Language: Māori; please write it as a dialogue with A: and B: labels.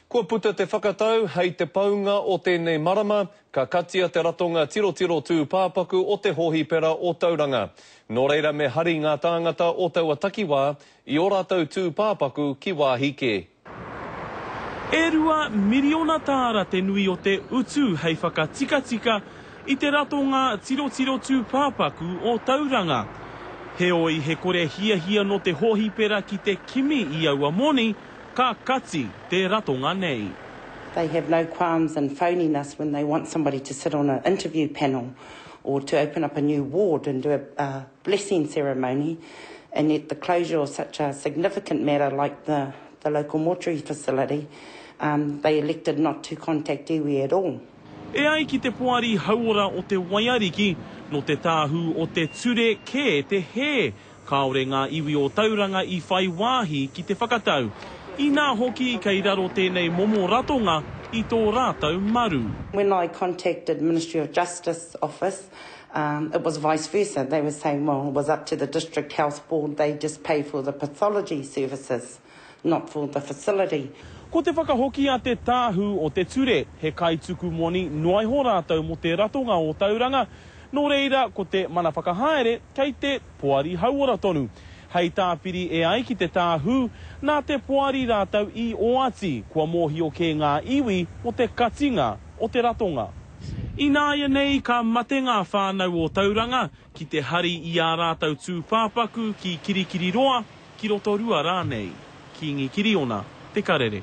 A: Kua puta te whakatau, hei te paunga o tēnei marama, ka katia te ratonga tirotiro tūpāpaku o te hōhipera o Tauranga. Nō reira me hari ngā tāngata o taua takiwā i ō rātou tūpāpaku ki wāhi kē.
B: E rua miriona tāra te nui o te utu hei whakatikatika i te ratonga tirotiro tūpāpaku o Tauranga. Heoi, he kore hiahia nō te hōhipera ki te kimi i aua moni, Ka kati te ratonga nei. They have no
C: qualms in phoning us when they want somebody to sit on an interview panel or to open up a new ward and do a blessing ceremony and yet the closure of such a significant matter like the local mortuary facility, they elected not to contact iwi at all. E ai ki te
B: Poari Hauora o Te Waiariki, nō te tāhū o te ture kē te hē Kāore ngā iwi o Tauranga i whai wāhi ki te whakatau, inā hoki kei raro tēnei momo ratonga i tō rātou maru. When I contacted
C: Ministry of Justice office, it was vice versa, they were saying well it was up to the District Health Board, they just pay for the pathology services. not for the facility. Ko te whakahoki
B: a te tāhū o te ture, he kaituku moni noa iho rātou mō te ratonga o Tauranga, nō reira ko te mana whakahaere kei te Poari Hauora tonu. Hei tāpiri e ai ki te tāhū, nā te Poari rātou i oati kua mōhio kē ngā iwi mō te katinga o te ratonga. Ināianei ka mate ngā whānau o Tauranga, Ki te hari i ā rātou tūpāpaku ki Kirikiriroa, ki Rotorua rānei. Kīngi Kiriona, Te Karere.